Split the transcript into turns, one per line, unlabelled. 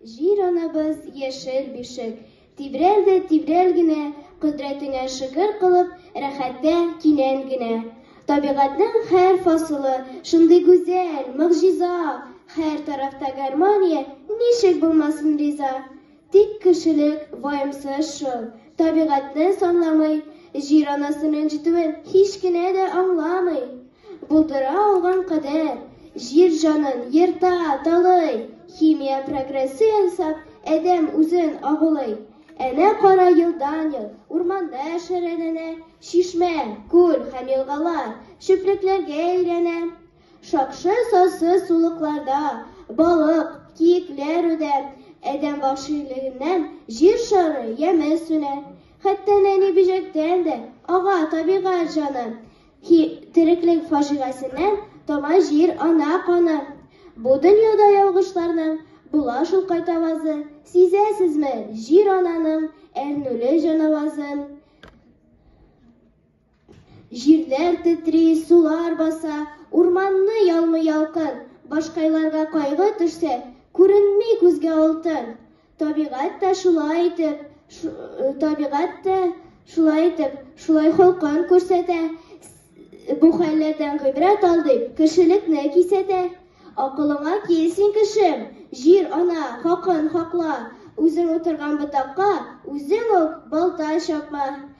Җир анабыз яшел бишек, Тибрәл дә тибрәл генә, Кодрәтеңә шөкер кылып, Рәхәттә кинән генә. Табигатьнең һәр фасылы Шундый гүзәл, могҗиза, Һәр тарафта гармония, Ничек булмасын риза? Тик кешелек ваемсыз шул, табигатьне санламый, җир анасын рәнҗетүен һич кенә дә аңламый. Булдыра алган кадәр, җир җанын ерта, талый, химия прогрессы ясап, адәм үзен агулый. Әнә кара елдан-ел урманда шәрәләнә, чишмә, күл һәм елгалар чүплекләргә әйләнә. Шакшы сасы сулыкларда, балык, киекләр үдә, адәм вәхшилегеннән җир шары яме сүнә. Хәтта нәни бөҗәктән дә ага табигать җаны, һи, тереклек фаҗигасеннән тама җир ана каны. Бу дөньяда ялгышларның була шул кайтавазы, сизәсезме, җир ананың әрнүле җанавазын? Җирләр тетри, сулар баса, Урманны ялмый ялкын, Башкайларга кайгы төшсә, Күренми күзгә алтын. Табигать тә шулай итеп, Табигать тә шулай итеп, Шулай холкын күрсәтә. Бу хәлләрдән гыйбрәт ал дип, Кешелекне кисәтә. Акылыңа кил, син кешем, Җир ана хакын хакла, Үзең утырган ботакка Үзең үк балта чапма.